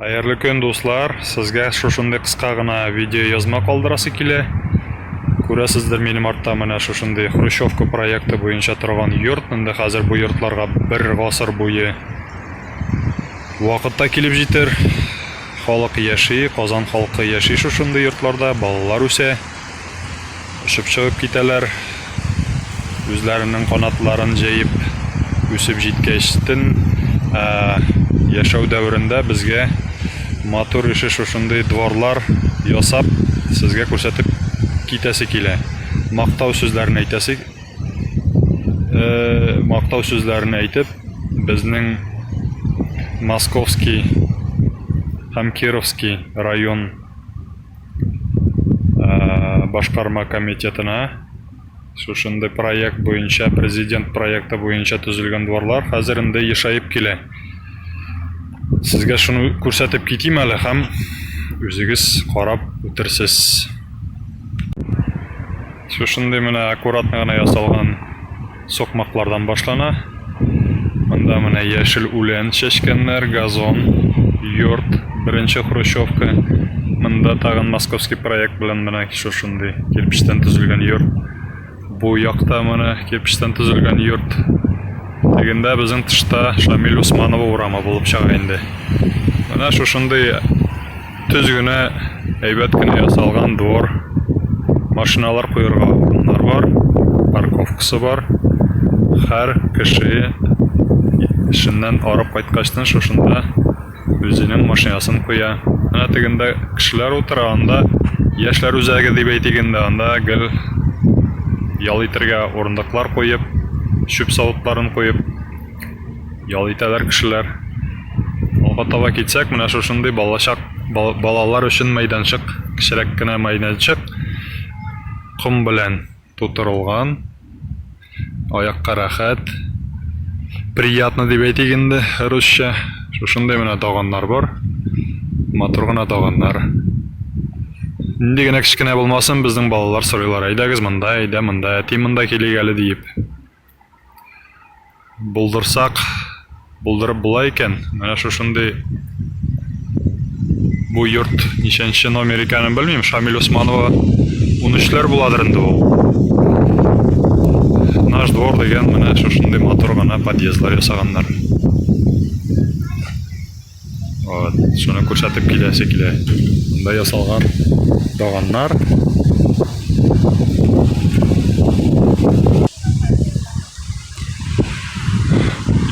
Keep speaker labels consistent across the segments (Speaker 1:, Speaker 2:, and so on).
Speaker 1: Хәерле көн дуслар! Сезгә шушындый кыска гына видео язма калдырасы килә. Күрәсездер минем артта менә шушындый Хрущевка проекты буенча торган йорт, инде хәзер бу йортларга бер гасыр буе вакытта килеп җитер. Халык яши, Казан халкы яши шушындый йортларда, балалар үсә. Очып чыгып китәләр. Үзләренең канатларын җәеп үсеп җиткәч, төн яшәү дәверендә безгә матур ише шушындый дворлар ясап, сезгә күрсәтеп китәсе килә. Мактау сүзләрен әйтәсе мактау сүзләрен әйтеп, безнең Московский һәм Кировский район башкарма комитетына шушындый проект буенча, президент проекты буенча төзелгән дворлар хәзер инде ешаеп килә. Сезгә шуны күрсәтеп китим әле һәм үзегез карап үтерсез. Шушындый менә аккуратно гына ясалган Сукмаклардан башлана. Монда менә яшел үлән чәчкәннәр, газон, йорт, беренче хрущевка. Монда тагын московский проект белән менә шушындый кирпечтән төзелгән йорт. Бу якта менә кирпечтән төзелгән йорт. Тегендә безнең тышта Шамиль Усманова урамы булып чыга инде. Менә шушындый Төз генә, әйбәт кенә ясалган двор. Машиналар куерга урыннар бар, парковкасы бар. Хәр кеше эшеннән арып кайткачтын шушында үзенең машинасын куя. Менә тегендә кешеләр утыра, анда яшьләр үзәге дип әйтик инде, анда гел ял итергә урындыклар куеп, чүп савытларын куеп. ял итәләр кешеләр. Алга таба китсәк, менә шушындый балачак балалар өчен мәйданчык, кечерәк кенә мәйданчык ком белән тутырылган. Аякка рәхәт. Приятно дип әйтик инде русча. Шушындый менә таганнар бар. Матур гына таганнар. Нинди генә кечкенә булмасын, безнең балалар сорыйлар, әйдәгез монда, әйдә монда, әти монда килик әле диеп. Булдырсак, булдырып була икән. Менә шушындый бу йорт ничәнче номер икәнен белмим. Шамил Усманова 13-ләр буладыр инде ул. Наш двор дигән менә шушындый матур гына подъездлар ясаганнар. Вот, шуны күрсәтеп киләсе килә. Монда ясалган даганнар.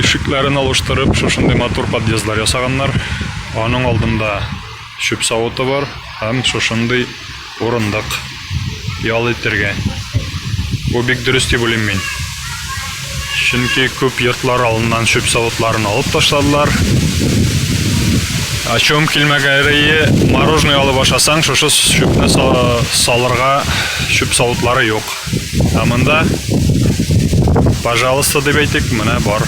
Speaker 1: Ишекләрен алыштырып, шушындый матур подъездлар ясаганнар. Аның алдында чүп савыты бар һәм шушындый урындык ял итергә. Бу бик дөрес дип уйлыйм мин. Чөнки күп йортлар алыннан чүп савытларын алып ташладылар. Ачуым килмәгәре мороженое алып ашасаң, шушы чүпне салырга чүп савытлары юк. Ә монда пожалуйста дип әйтик, менә бар.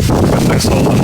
Speaker 1: Кертең салдым.